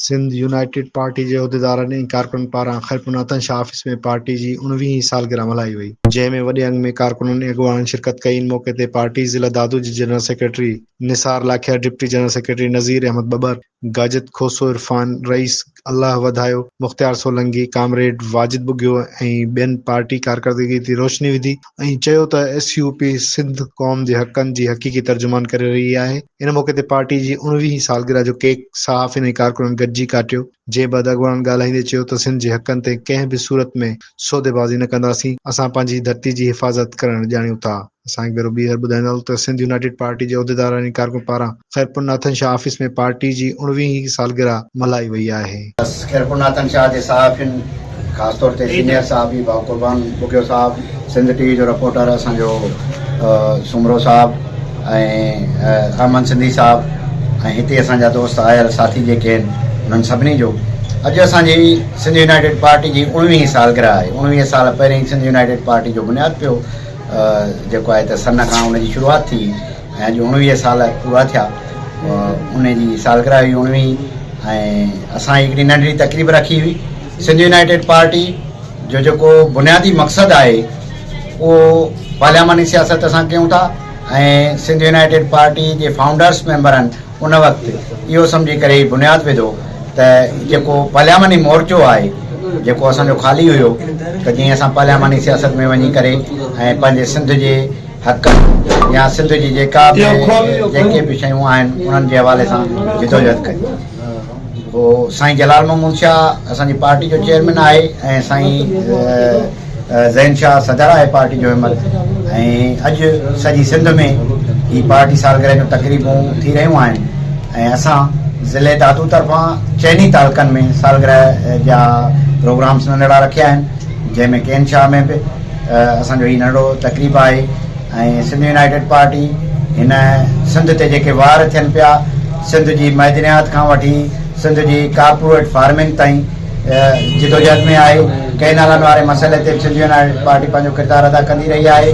Sindh united party جي عهديدارن ۽ ڪارڪنن پاران خيرپور ناتن شاهه آفيس ۾ پارٽي جي اڻويهين هين سالگرهه ملهائي وئي، جنهن ۾ وڏي انگ ۾ ڪارڪنن ۽ اڳواڻن شرڪت ڪئي، ان موقعي تي پارٽي ضلع دادو جي general secretary Nisar Lakhiar, deputy general secretary Nazir Ahmed Babbar, گاجت کوسو عرفان، رئيس الله وڌايو، مختيار سولنگي، ڪامريڊ واجد ٻگهيو ۽ ٻين پارٽي ڪارڪردگي تي روشني وڌي. ائين چيو ته ايس يو پي سنڌ قوم جي حقن جي حقيقي ترجمان ڪري رهي آهي، ان موقعي تي پارٽي جي اوڻويهين سالگرهه جو ڪيڪ صحافين ۽ ڪارڪنن گڏجي ڪاٽيو، جنهن بعد اڳواڻن ڳالهائيندي چيو ته سنڌ جي حقن تي ڪنهن به صورت ۾ سوديبازي نه ڪنداسين، اسان پنهنجي ڌرتي جي حفاظت ڪرڻ ڄاڻيون ٿا. اسان هڪ ڀيرو ٻيهر ٻڌائينداسون ته سنڌ يونائيٽيڊ پارٽي جي عهديدارن ۽ ڪارڪنن پاران خيرپورناٿن شاهه آفيس ۾ پارٽي جي اڻويهين سالگرهه ملهائي وئي آهي. خيرپورناٿن شاهه جي صحافين خاص طور تي سينيئر صحافي ڀاء قربان ٻگهيو صاحب، سنڌ ٽي وي جو رپورٽر اسان جو سومرو صاحب ۽ احمد سنڌي صاحب ۽ هتي اسان جا دوست آيل ساٿي جيڪي آهن انهن سڀني جو اڄ اسان جي سنڌ يونائيٽيڊ پارٽي جي اڻويهين سالگرهه آهي اڻويهه سال پهرين سنڌ يونائيٽيڊ پارٽي جو بنياد پيو جيڪو آهي ته سن کان ان جي شروعات ٿي ۽ اڄ اڻويهه سال پورا ٿيا ان جي سالگرهه هئي اڻويهين ۽ اسان هڪڙي ننڍڙي تقريب رکي هئي سنڌ يونائيٽيڊ پارٽي جو جيڪو بنيادي مقصد آهي اهو پارلياماني سياست اسان ڪيون ٿا ۽ سنڌ يونائيٽيڊ پارٽي جي فائونڊرس ميمبرن ان وقت اهو سمجهي ڪري هي بنياد وڌو ته جيڪو پارلياماني مورچو آهي جيڪو اسان جو خالي هيو ته جئين اسان پارلياماني سياست ۾ وڃي ڪري ۽ پنهنجي سنڌ جي حقن يا سنڌ جي جيڪا به جيڪي به شيون آهن انهن جي حوالي سان جدوجهد ڪريون پوء سائين جلال محمود شاهه اسان جي پارٽي جو چيئرمين آهي ۽ سائين زين شاهه صدر آهي پارٽي جو همت ۽ اڄ سڄي سنڌ ۾ هي پارٽي سالگرهه جون تقريبون ٿي رهيون آهن ۽ اسان ضلعي دادو طرفان چئني تعلقن ۾ سالگرهه جا پروگرامس ننڍڙا رکيا آهن جنهن ۾ ڪين شاهه ۾ به اسان جو هي ننڍڙو تقريب آهي ۽ سنڌ يونائيٽيڊ پارٽي هن سنڌ تي جيڪي وار ٿين پيا سنڌ جي معدنيات کان وٺي سنڌ جي ڪارپوريٽ فارمنگ تائين جدوجهد ۾ آهي ڪئنالن واري مسئلي تي به سنڌ يونائيٽيڊ پارٽي پنهنجو ڪردار ادا ڪندي رهي آهي.